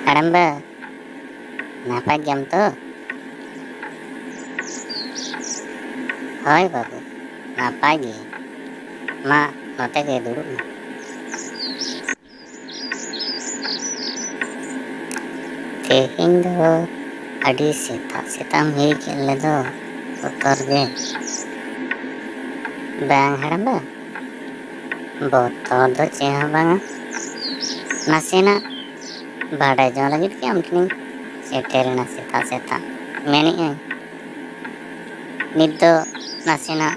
ᱦᱟᱲᱟᱢ ᱵᱟ ᱱᱟᱯᱟᱭ ᱜᱮᱭᱟᱢ ᱛᱚ ᱦᱳᱭ ᱵᱟᱹᱵᱩ ᱱᱟᱯᱟᱭ ᱜᱮ ᱢᱟ ᱱᱚᱛᱮ ᱜᱮ ᱫᱩᱲᱩᱵ ᱢᱮ ᱛᱮᱦᱮᱧ ᱫᱚ ᱟᱹᱰᱤ ᱥᱮᱛᱟᱜ ᱥᱮᱛᱟᱜ ᱦᱮᱡ ᱠᱮᱫ ᱞᱮᱫᱚ ᱵᱚᱛᱚᱨ ᱜᱮ ᱵᱟᱝ ᱦᱟᱲᱟᱢᱵᱟ ᱵᱚᱛᱚᱨ ᱫᱚ ᱪᱮᱫ ᱦᱚᱸ ᱵᱟᱝᱟ ᱱᱟᱥᱮᱱᱟᱜ ᱵᱟᱰᱟᱭ ᱡᱚᱝ ᱞᱟᱹᱜᱤᱫ ᱜᱮ ᱟᱢ ᱴᱷᱮᱱᱤᱧ ᱥᱮᱴᱮᱨᱮᱱᱟ ᱥᱮᱛᱟᱜ ᱥᱮᱛᱟᱜ ᱢᱮᱱᱮᱫ ᱟᱹᱧ ᱱᱤᱛ ᱫᱚ ᱱᱟᱥᱮᱱᱟᱜ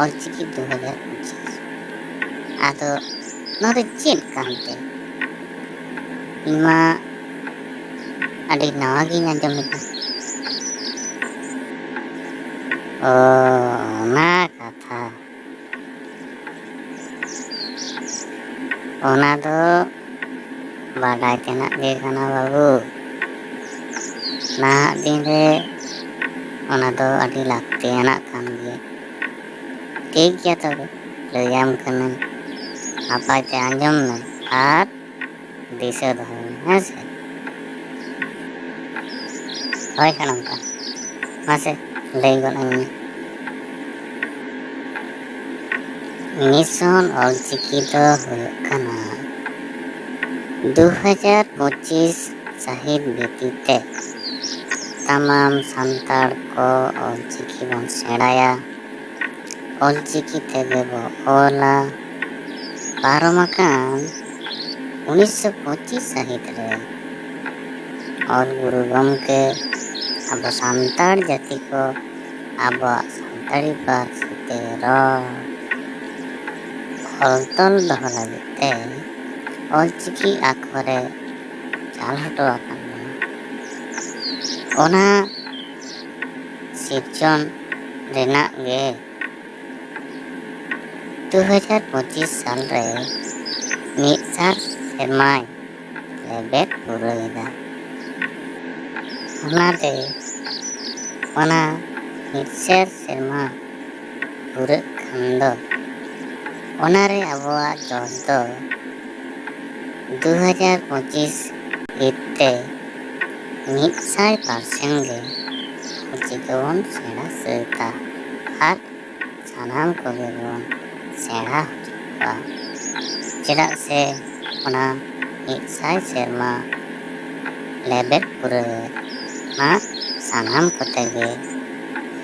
ᱚᱞᱪᱤᱠᱤ ᱫᱩ ᱦᱟᱡᱟᱨ ᱯᱚᱸᱪᱤᱥ ᱟᱫᱚ ᱱᱚᱣᱟ ᱫᱚ ᱪᱮᱫ ᱠᱟᱱᱛᱮ ᱤᱧ ᱢᱟ ᱟᱹᱰᱤ ᱱᱟᱣᱟ ᱜᱤᱧ ᱟᱸᱡᱚᱢ ᱮᱫᱟ ᱚ ᱚᱱᱟ ᱠᱟᱛᱷᱟ ᱚᱱᱟ ᱫᱚ ᱵᱟᱰᱟᱭ ᱛᱮᱱᱟᱜ ᱜᱮ ᱠᱟᱱᱟ ᱵᱟᱹᱵᱩ ᱱᱟᱦᱟᱜ ᱫᱤᱱ ᱨᱮ ᱚᱱᱟ ᱫᱚ ᱟᱹᱰᱤ ᱞᱟᱹᱠᱛᱤᱭᱟᱱᱟᱜ ᱠᱟᱱ ᱜᱮᱭᱟ ᱴᱷᱤᱠ ᱜᱮᱭᱟ ᱛᱚᱵᱮ ᱞᱟᱹᱭᱟᱢ ᱠᱟᱹᱱᱟᱹᱧ ᱱᱟᱯᱟᱭ ᱛᱮ ᱟᱸᱡᱚᱢ ᱢᱮ ᱟᱨ ᱫᱤᱥᱟᱹ ᱫᱚᱦᱚᱭ ᱢᱮ ᱦᱮᱸ ᱥᱮ ᱦᱳᱭ ᱦᱟᱲᱟᱢ ᱠᱟ ᱢᱟᱥᱮ ᱞᱟᱹᱭ ᱜᱚᱫ ᱟᱹᱧ ᱢᱮ ᱢᱤᱥᱚᱱ ᱚᱞᱪᱤᱠᱤ ᱫᱚ ᱦᱩᱭᱩᱜ ᱠᱟᱱᱟ ᱫᱩ ᱦᱟᱡᱟᱨ ᱯᱚᱸᱪᱤᱥ ᱥᱟᱹᱦᱤᱛ ᱵᱷᱤᱛᱤᱨ ᱛᱮ ᱥᱟᱱᱟᱢ ᱥᱟᱱᱛᱟᱲ ᱠᱚ ᱚᱞᱪᱤᱠᱤ ᱵᱚᱱ ᱥᱮᱬᱟᱭᱟ ᱚᱞᱪᱤᱠᱤ ᱛᱮᱜᱮ ᱵᱚ ᱚᱞᱟ ᱯᱟᱨᱚᱢ ᱟᱠᱟᱱ ᱩᱱᱤᱥᱥᱚ ᱯᱚᱸᱪᱤᱥ ᱥᱟᱹᱦᱤᱛ ᱨᱮ ᱚᱞ ᱜᱩᱨᱩ ᱜᱚᱢᱠᱮ ᱟᱵᱚ ᱥᱟᱱᱛᱟᱲ ᱡᱟᱹᱛᱤ ᱠᱚ ᱟᱵᱚᱣᱟᱜ ᱥᱟᱱᱛᱟᱲᱤ ᱯᱟᱹᱨᱥᱤ ᱛᱮ ᱨᱚᱲ ᱚᱞ ᱛᱚᱞ ᱫᱚᱦᱚ ᱞᱟᱹᱜᱤᱫ ᱛᱮ ᱚᱞᱪᱤᱠᱤ ᱟᱠᱷᱚᱨᱮ ᱪᱟᱞ ᱦᱚᱴᱚ ᱟᱠᱟᱱ ᱚᱱᱟ ᱥᱤᱨᱡᱚᱱ ᱨᱮᱱᱟᱜ ᱜᱮ ᱫᱩ ᱦᱟᱡᱟᱨ ᱯᱚᱸᱪᱤᱥ ᱥᱟᱞ ᱨᱮ ᱢᱤᱫ ᱥᱟᱭ ᱥᱮᱨᱢᱟᱭ ᱞᱮᱵᱮᱫ ᱯᱩᱨᱟᱹᱣ ᱮᱫᱟ ᱚᱱᱟᱛᱮ ᱚᱱᱟ ᱢᱤᱫ ᱥᱮᱨ ᱥᱮᱨᱢᱟ ᱯᱩᱨᱟᱹᱜ ᱠᱷᱟᱱ ᱫᱚ ᱚᱱᱟᱨᱮ ᱟᱵᱚᱣᱟᱜ ᱡᱚᱥ ᱫᱚ ᱫᱩ ᱦᱟᱡᱟᱨ ᱯᱚᱸᱪᱤᱥ ᱦᱤᱛ ᱛᱮ ᱢᱤᱫ ᱥᱟᱭ ᱯᱟᱨᱥᱮᱱ ᱜᱮ ᱪᱤᱠᱟᱹ ᱵᱚᱱ ᱥᱮᱬᱟ ᱥᱟᱹᱛᱟ ᱟᱨ ᱥᱟᱱᱟᱢ ᱠᱚᱜᱮ ᱵᱚᱱ ᱥᱮᱬᱟ ᱦᱚᱪᱚ ᱠᱚᱣᱟ ᱪᱮᱫᱟᱜ ᱥᱮ ᱚᱱᱟ ᱢᱤᱫ ᱥᱟᱭ ᱥᱮᱨᱢᱟ ᱞᱮᱵᱮᱫ ᱯᱩᱨᱟᱹᱣ ᱢᱟ ᱥᱟᱱᱟᱢ ᱠᱚᱛᱮ ᱜᱮ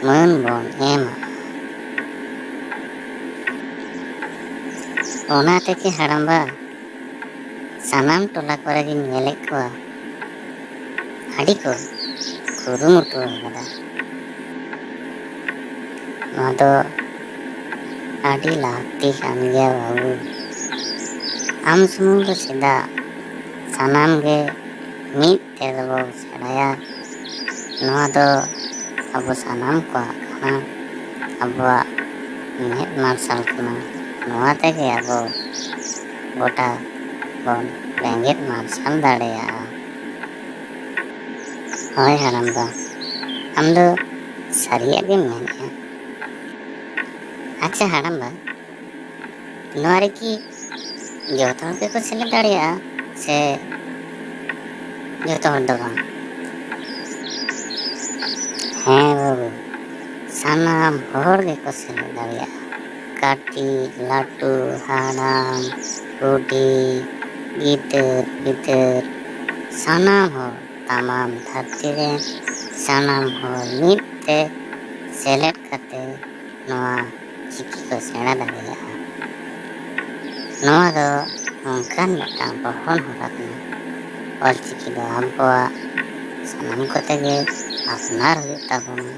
ᱢᱟᱹᱱ ᱵᱚᱱ ᱮᱢᱟ ᱚᱱᱟ ᱛᱮᱜᱮ ᱦᱟᱲᱟᱢᱵᱟ ᱥᱟᱱᱟᱢ ᱴᱚᱞᱟ ᱠᱚᱨᱮ ᱜᱤᱧ ᱧᱮᱞᱮᱫ ᱠᱚᱣᱟ ᱟᱹᱰᱤ ᱠᱚ ᱠᱩᱨᱩᱢᱩᱴᱩ ᱟᱠᱟᱫᱟ ᱱᱚᱣᱟ ᱫᱚ ᱟᱹᱰᱤ ᱞᱟᱹᱠᱛᱤ ᱠᱟᱱ ᱜᱮᱭᱟ ᱵᱟᱹᱵᱩ ᱟᱢ ᱥᱩᱢᱩᱝ ᱫᱚ ᱪᱮᱫᱟᱜ ᱥᱟᱱᱟᱢ ᱜᱮ ᱢᱤᱫ ᱛᱮ ᱫᱚᱵᱚ ᱥᱮᱬᱟᱭᱟ ᱱᱚᱣᱟ ᱫᱚ ᱟᱵᱚ ᱥᱟᱱᱟᱢ ᱠᱚᱣᱟᱜ ᱠᱟᱱᱟ ᱟᱵᱚᱣᱟᱜ ᱢᱮᱫ ᱢᱟᱨᱥᱟᱞ ᱠᱟᱱᱟ ᱱᱚᱣᱟ ᱛᱮᱜᱮ ᱟᱵᱚ ᱜᱚᱴᱟ ᱵᱚᱱ ᱵᱮᱸᱜᱮᱫ ᱢᱟᱨᱥᱟᱞ ᱫᱟᱲᱮᱭᱟᱜᱼᱟ ᱦᱳᱭ ᱦᱟᱲᱟᱢ ᱵᱟ ᱟᱢ ᱫᱚ ᱥᱟᱹᱨᱤᱭᱟᱜ ᱜᱮᱢ ᱢᱮᱱᱮᱫᱼᱟ ᱟᱪᱪᱷᱟ ᱦᱟᱲᱟᱢ ᱵᱟ ᱱᱚᱣᱟ ᱨᱮᱠᱤ ᱡᱚᱛᱚ ᱦᱚᱲ ᱜᱮᱠᱚ ᱥᱮᱞᱮᱫ ᱫᱟᱲᱮᱭᱟᱜᱼᱟ ᱥᱮ ᱡᱚᱛᱚ ᱦᱚᱲ ᱫᱚ ᱵᱟᱝ ᱦᱮᱸ ᱵᱟᱹᱵᱩ ᱥᱟᱱᱟᱢ ᱦᱚᱲ ᱜᱮᱠᱚ ᱥᱮᱞᱮᱫ ᱫᱟᱲᱮᱭᱟᱜᱼᱟ ᱠᱟᱹᱴᱤᱡ ᱞᱟᱹᱴᱩ ᱦᱟᱲᱟᱢ ᱵᱩᱰᱷᱤ ᱜᱤᱫᱟᱹᱨ ᱯᱤᱫᱟᱹᱨ ᱥᱟᱱᱟᱢ ᱦᱚᱲ ᱛᱟᱢᱟᱢ ᱫᱷᱟᱹᱨᱛᱤ ᱨᱮᱱ ᱥᱟᱱᱟᱢ ᱦᱚᱲ ᱢᱤᱫ ᱛᱮ ᱥᱮᱞᱮᱫ ᱠᱟᱛᱮ ᱱᱚᱣᱟ ᱪᱤᱠᱤ ᱠᱚ ᱥᱮᱬᱟ ᱫᱟᱲᱮᱭᱟᱜᱼᱟ ᱱᱚᱣᱟ ᱫᱚ ᱱᱚᱝᱠᱟᱱ ᱢᱤᱫᱴᱟᱝ ᱯᱚᱴᱷᱚᱱ ᱦᱚᱨᱟ ᱠᱟᱱᱟ ᱚᱞ ᱪᱤᱠᱤ ᱫᱚ ᱟᱵᱚᱣᱟᱜ ᱥᱟᱱᱟᱢ ᱠᱚᱛᱮ ᱜᱮ ᱟᱯᱱᱟᱨ ᱦᱩᱭᱩᱜ ᱛᱟᱵᱚᱱᱟ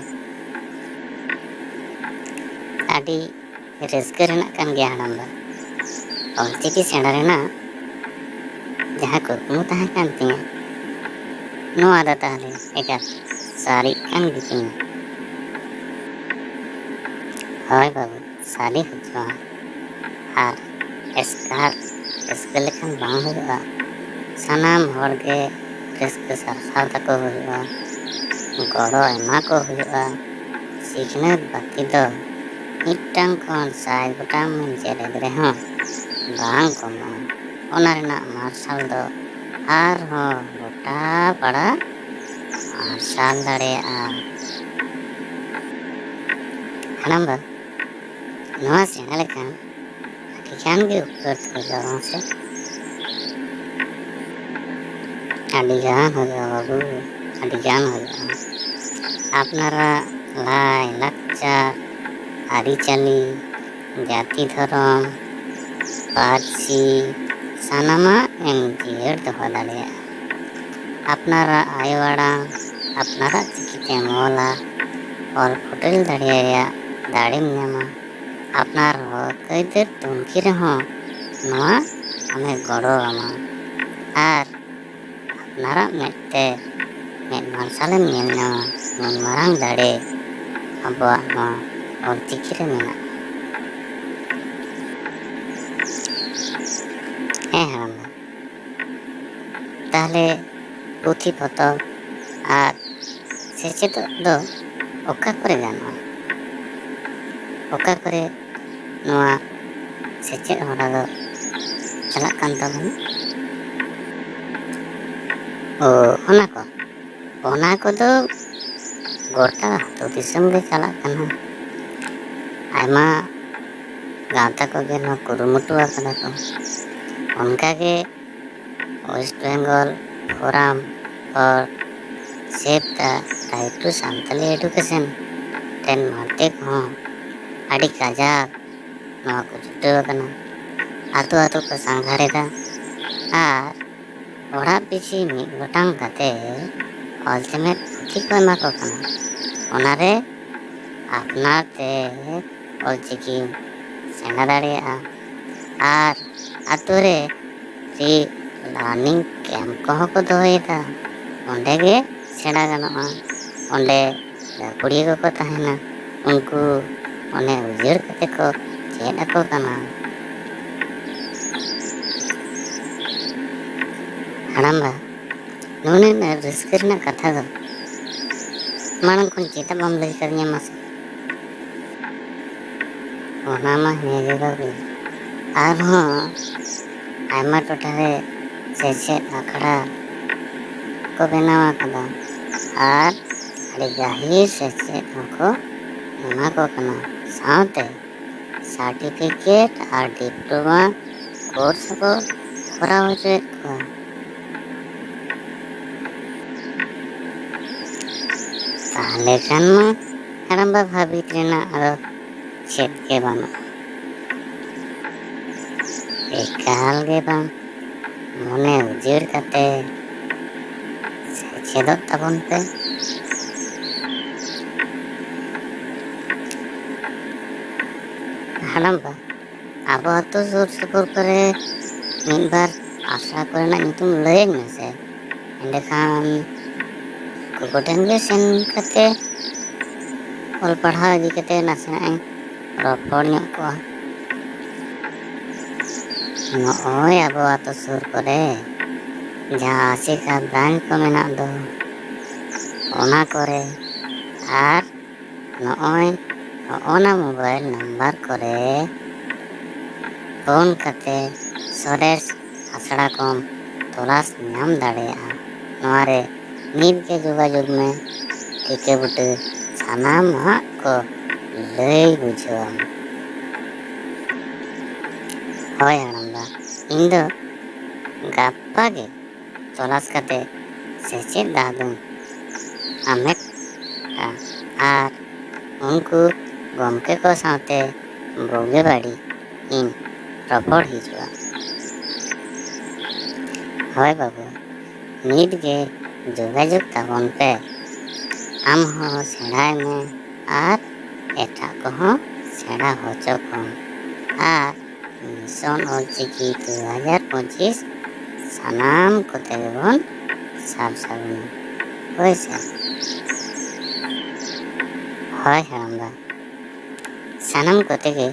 ᱟᱹᱰᱤ ᱨᱟᱹᱥᱠᱟᱹ ᱨᱮᱱᱟᱜ ᱠᱟᱱ ᱜᱮᱭᱟ ᱦᱟᱲᱟᱢ ᱫᱚ ᱚᱞ ᱪᱤᱠᱤ ᱥᱮᱬᱟ ᱨᱮᱱᱟᱜ ᱡᱟᱦᱟᱸ ᱠᱩᱠᱢᱩ ᱛᱟᱦᱮᱸ ᱠᱟᱱ ᱛᱤᱧᱟᱹ ᱱᱚᱣᱟ ᱫᱚ ᱛᱟᱦᱚᱞᱮ ᱮᱠᱟᱞ ᱥᱟᱹᱨᱤᱜ ᱠᱟᱱ ᱜᱮᱛᱤᱧᱟ ᱦᱳᱭ ᱵᱟᱹᱵᱩ ᱥᱟᱞᱮ ᱦᱚᱪᱚ ᱟᱨ ᱮᱥᱠᱟᱨ ᱨᱟᱹᱥᱠᱟᱹ ᱞᱮᱠᱷᱟᱱ ᱵᱟᱝ ᱦᱩᱭᱩᱜᱼᱟ ᱥᱟᱱᱟᱢ ᱦᱚᱲ ᱜᱮ ᱨᱟᱹᱥᱠᱟᱹ ᱥᱟᱨᱥᱟᱣ ᱛᱟᱠᱚ ᱦᱩᱭᱩᱜᱼᱟ ᱜᱚᱲᱚ ᱮᱢᱟ ᱠᱚ ᱦᱩᱭᱩᱜᱼᱟ ᱥᱤᱠᱷᱱᱟᱹᱛ ᱵᱟᱹᱛᱤ ᱫᱚ ᱢᱤᱫᱴᱟᱝ ᱠᱷᱚᱱ ᱥᱟᱭ ᱜᱚᱴᱟᱝ ᱵᱚᱱ ᱡᱮᱨᱮᱫ ᱨᱮᱦᱚᱸ ᱵᱟᱝ ᱠᱚᱢᱚᱜᱼᱟ ᱚᱱᱟ ᱨᱮᱱᱟᱜ ᱢᱟᱨᱥᱟᱞ ᱫᱚ ᱟᱨᱦᱚᱸ ᱜᱚᱴᱟ ᱯᱟᱲᱟ ᱢᱟᱨᱥᱟᱞ ᱫᱟᱲᱮᱭᱟᱜᱼᱟ ᱦᱟᱲᱟᱢ ᱵᱟ ᱱᱚᱣᱟ ᱥᱮᱬᱟ ᱞᱮᱠᱷᱟᱱ ᱟᱹᱰᱤ ᱜᱟᱱ ᱜᱮ ᱩᱯᱠᱟᱹᱨ ᱦᱩᱭᱩᱜᱼᱟ ᱵᱟᱝ ᱥᱮ ᱟᱹᱰᱤ ᱜᱟᱱ ᱦᱩᱭᱩᱜᱼᱟ ᱵᱟᱹᱵᱩ ᱟᱹᱰᱤ ᱜᱟᱱ ᱦᱩᱭᱩᱜᱼᱟ ᱟᱯᱱᱟᱨᱟᱜ ᱞᱟᱭ ᱞᱟᱠᱪᱟᱨ ᱟᱹᱨᱤᱪᱟᱹᱞᱤ ᱡᱟᱹᱛᱤ ᱫᱷᱚᱨᱚᱢ ᱯᱟᱹᱨᱥᱤ ᱥᱟᱱᱟᱢᱟᱜ ᱮᱢ ᱡᱤᱭᱟᱹᱲ ᱫᱚᱦᱚ ᱫᱟᱲᱮᱭᱟᱜᱼᱟ ᱟᱯᱱᱟᱨᱟᱜ ᱟᱭᱳ ᱟᱲᱟᱝ ᱟᱯᱱᱟᱨᱟᱜ ᱪᱤᱠᱤ ᱛᱮᱢ ᱚᱞᱟ ᱚᱞ ᱯᱷᱚᱴᱮᱞ ᱫᱟᱲᱮ ᱨᱮᱭᱟᱜ ᱫᱟᱲᱮᱢ ᱧᱟᱢᱟ ᱟᱯᱱᱟᱨ ᱦᱚᱠ ᱟᱹᱭᱫᱟᱹᱨ ᱛᱩᱱᱠᱷᱤ ᱨᱮᱦᱚᱸ ᱱᱚᱣᱟ ᱟᱢᱮ ᱜᱚᱲᱚ ᱟᱢᱟ ᱟᱨ ᱟᱯᱱᱟᱨᱟᱜ ᱢᱮᱫ ᱛᱮ ᱢᱮᱫ ᱢᱟᱨᱥᱟᱞᱮᱢ ᱧᱮᱞ ᱧᱟᱢᱟ ᱱᱩᱱ ᱢᱟᱨᱟᱝ ᱫᱟᱲᱮ ᱟᱵᱚᱣᱟᱜ ᱱᱚᱣᱟ ᱚᱞ ᱪᱤᱠᱤ ᱨᱮ ᱢᱮᱱᱟᱜᱼᱟ ᱦᱮᱸ ᱦᱟᱲᱟᱢᱵᱟ ᱛᱟᱦᱚᱞᱮ ᱯᱩᱛᱷᱤ ᱯᱚᱛᱚᱵ ᱟᱨ ᱥᱮᱪᱮᱫᱚᱜ ᱫᱚ ᱚᱠᱟ ᱠᱚᱨᱮ ᱜᱟᱱᱚᱜᱼᱟ ᱚᱠᱟ ᱠᱚᱨᱮ ᱱᱚᱣᱟ ᱥᱮᱪᱮᱫ ᱦᱚᱨᱟ ᱫᱚ ᱪᱟᱞᱟᱜ ᱠᱟᱱ ᱛᱟᱵᱚᱱᱟ ᱚ ᱚᱱᱟ ᱠᱚ ᱚᱱᱟ ᱠᱚᱫᱚ ᱜᱚᱴᱟ ᱟᱹᱛᱩ ᱫᱤᱥᱚᱢ ᱜᱮ ᱪᱟᱞᱟᱜ ᱠᱟᱱᱟ ᱟᱭᱢᱟ ᱜᱟᱶᱛᱟ ᱠᱚᱜᱮ ᱱᱚᱣᱟ ᱠᱩᱨᱩᱢᱩᱴᱩ ᱟᱠᱟᱫᱟ ᱠᱚ ᱚᱱᱠᱟᱜᱮ West Bengal forum for save the right to Santali education ᱨᱮᱱ ᱢᱟᱨᱛᱮ ᱠᱚᱦᱚᱸ ᱟᱹᱰᱤ ᱠᱟᱡᱟᱠ ᱱᱚᱣᱟ ᱠᱚ ᱪᱷᱩᱴᱟᱹᱣ ᱟᱠᱟᱱᱟ ᱟᱹᱛᱩ ᱟᱹᱛᱩ ᱠᱚ ᱥᱟᱸᱜᱷᱟᱨᱮᱫᱟ ᱟᱨ ᱚᱲᱟᱜ ᱯᱤᱪᱷᱤ ᱢᱤᱫ ᱜᱚᱴᱟᱝ ᱠᱟᱛᱮ ᱚᱞ ᱪᱮᱢᱮᱫ ᱯᱩᱛᱷᱤ ᱠᱚ ᱮᱢᱟ ᱠᱚ ᱠᱟᱱᱟ ᱚᱱᱟᱨᱮ ᱟᱯᱱᱟᱨ ᱛᱮ ᱚᱞ ᱪᱤᱠᱤ ᱥᱮᱬᱟ ᱫᱟᱲᱮᱭᱟᱜᱼᱟ ᱟᱨ ᱟᱛᱳ ᱨᱮ ᱯᱷᱨᱤ ᱞᱟᱨᱱᱤᱝ ᱠᱮᱢᱯ ᱠᱚᱦᱚᱸ ᱠᱚ ᱫᱚᱦᱚᱭᱮᱫᱟ ᱚᱸᱰᱮ ᱜᱮ ᱥᱮᱬᱟ ᱜᱟᱱᱚᱜᱼᱟ ᱚᱸᱰᱮ ᱡᱟᱦᱟᱸ ᱠᱩᱲᱤ ᱠᱚᱠᱚ ᱛᱟᱦᱮᱱᱟ ᱩᱱᱠᱩ ᱚᱱᱮ ᱩᱡᱟᱹᱲ ᱠᱟᱛᱮ ᱠᱚ ᱪᱮᱫ ᱟᱠᱚ ᱠᱟᱱᱟ ᱦᱟᱲᱟᱢᱵᱟ ᱱᱩᱱᱟᱹᱜ ᱨᱟᱹᱥᱠᱟᱹ ᱨᱮᱱᱟᱜ ᱠᱟᱛᱷᱟ ᱫᱚ ᱢᱟᱲᱟᱝ ᱠᱷᱚᱱ ᱪᱮᱫᱟᱜ ᱵᱟᱢ ᱞᱟᱹᱭ ᱠᱟᱫᱤᱧᱟ ᱢᱟᱥᱮ ᱚᱱᱟ ᱢᱟ ᱦᱮᱸ ᱜᱮ ᱵᱟᱹᱵᱩ ᱟᱨᱦᱚᱸ ᱟᱭᱢᱟ ᱴᱚᱴᱷᱟ ᱨᱮ ᱥᱮᱪᱮᱫ ᱟᱠᱷᱲᱟ ᱠᱚ ᱵᱮᱱᱟᱣ ᱟᱠᱟᱫᱟ ᱟᱨ ᱟᱹᱰᱤ ᱜᱟᱹᱦᱤᱨ ᱥᱮᱪᱮᱫ ᱦᱚᱸᱠᱚ ᱮᱢᱟ ᱠᱚ ᱠᱟᱱᱟ ᱥᱟᱶᱛᱮ ᱥᱟᱨᱴᱤᱯᱷᱤᱠᱮᱴ ᱟᱨ ᱰᱤᱯᱞᱳᱢᱟ ᱠᱳᱨᱥ ᱠᱚ ᱠᱚᱨᱟᱣ ᱦᱚᱪᱚᱭᱮᱫ ᱠᱚᱣᱟ ᱛᱟᱦᱚᱞᱮ ᱠᱷᱟᱱ ᱢᱟ ᱦᱟᱲᱟᱢᱵᱟ ᱵᱷᱟᱹᱵᱤᱛ ᱨᱮᱱᱟᱜ ᱟᱫᱚ ᱪᱮᱫ ᱜᱮ ᱵᱟᱹᱱᱩᱜᱼᱟ ᱮᱠᱟᱞ ᱜᱮ ᱵᱟᱝ ᱢᱚᱱᱮ ᱩᱡᱟᱹᱲ ᱠᱟᱛᱮ ᱥᱮᱪᱮᱫᱚᱜ ᱛᱟᱵᱚᱱ ᱯᱮ ᱦᱟᱲᱟᱢ ᱵᱟ ᱟᱵᱚ ᱟᱛᱳ ᱥᱩᱨ ᱥᱩᱯᱩᱨ ᱠᱚᱨᱮ ᱢᱤᱫ ᱵᱟᱨ ᱟᱥᱲᱟ ᱠᱚᱨᱮᱱᱟᱜ ᱧᱩᱛᱩᱢ ᱞᱟᱹᱭᱟᱹᱧ ᱢᱮᱥᱮ ᱮᱸᱰᱮᱠᱷᱟᱱ ᱩᱱᱠᱩ ᱠᱚᱴᱷᱮᱱ ᱜᱮ ᱥᱮᱱ ᱠᱟᱛᱮ ᱚᱞ ᱯᱟᱲᱦᱟᱣ ᱤᱫᱤ ᱠᱟᱛᱮ ᱱᱟᱥᱮᱱᱟᱜ ᱤᱧ ᱨᱚᱯᱚᱲ ᱧᱚᱜ ᱠᱚᱣᱟ ᱱᱚᱜᱼᱚᱭ ᱟᱵᱚ ᱟᱛᱳ ᱥᱩᱨ ᱠᱚᱨᱮ ᱡᱟᱦᱟᱸ ᱟᱥᱮᱠᱟ ᱵᱨᱟᱱᱪ ᱠᱚ ᱢᱮᱱᱟᱜ ᱫᱚ ᱚᱱᱟ ᱠᱚᱨᱮ ᱟᱨ ᱱᱚᱜᱼᱚᱭ ᱦᱚᱜᱼᱚᱱᱟ ᱢᱳᱵᱟᱭᱤᱞ ᱱᱟᱢᱵᱟᱨ ᱠᱚᱨᱮ ᱯᱷᱳᱱ ᱠᱟᱛᱮ ᱥᱚᱨᱮᱥ ᱟᱥᱲᱟ ᱠᱚᱢ ᱛᱚᱞᱟᱥ ᱧᱟᱢ ᱫᱟᱲᱮᱭᱟᱜᱼᱟ ᱱᱚᱣᱟ ᱨᱮ ᱱᱤᱛ ᱜᱮ ᱡᱳᱜᱟᱡᱳᱜᱽ ᱢᱮ ᱴᱷᱤᱠᱟᱹ ᱵᱩᱴᱟᱹ ᱥᱟᱱᱟᱢᱟᱜ ᱠᱚ ᱞᱟᱹᱭ ᱵᱩᱡᱷᱟᱹᱣᱟᱢ ᱦᱳᱭ ᱦᱟᱲᱟᱢᱵᱟ ᱤᱧ ᱫᱚ ᱜᱟᱯᱟ ᱜᱮ ᱛᱚᱞᱟᱥ ᱠᱟᱛᱮ ᱥᱮᱪᱮᱫ ᱫᱟᱣ ᱫᱚᱢ ᱟᱢᱮᱴ ᱟ ᱟᱨ ᱩᱱᱠᱩ ᱜᱚᱢᱠᱮ ᱠᱚ ᱥᱟᱶᱛᱮ ᱵᱩᱜᱤ ᱵᱟᱹᱲᱤᱡ ᱤᱧ ᱨᱚᱯᱚᱲ ᱦᱤᱡᱩᱜᱼᱟ ᱦᱳᱭ ᱵᱟᱹᱵᱩ ᱱᱤᱛ ᱜᱮ ᱡᱳᱜᱟᱡᱳᱜᱽ ᱛᱟᱵᱚᱱ ᱯᱮ ᱟᱢ ᱦᱚᱸ ᱥᱮᱬᱟᱭ ᱢᱮ ᱟᱨ ᱮᱴᱟᱜ ᱠᱚᱦᱚᱸ ᱥᱮᱬᱟ ᱦᱚᱪᱚ ᱠᱚᱢ ᱟᱨ ᱢᱤᱥᱚᱱ ᱚᱞ ᱪᱤᱠᱤ ᱫᱩ ᱦᱟᱡᱟᱨ ᱯᱚᱸᱪᱤᱥ ᱥᱟᱱᱟᱢ ᱠᱚᱛᱮ ᱜᱮᱵᱚᱱ ᱥᱟᱵ ᱥᱟᱹᱜᱩᱱ ᱦᱳᱭ ᱥᱮ ᱦᱳᱭ ᱦᱟᱲᱟᱢᱵᱟ ᱥᱟᱱᱟᱢ ᱠᱚᱛᱮ ᱜᱮ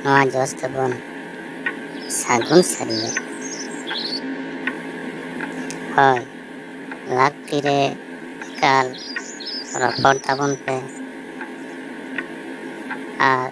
ᱱᱚᱣᱟ ᱡᱚᱥ ᱫᱚᱵᱚᱱ ᱥᱟᱹᱜᱩᱱ ᱥᱟᱹᱨᱤᱭᱟ ᱦᱳᱭ ᱞᱟᱹᱠᱛᱤ ᱨᱮ ᱮᱠᱟᱞ ᱨᱚᱯᱚᱲ ᱛᱟᱵᱚᱱ ᱯᱮ ᱟᱨ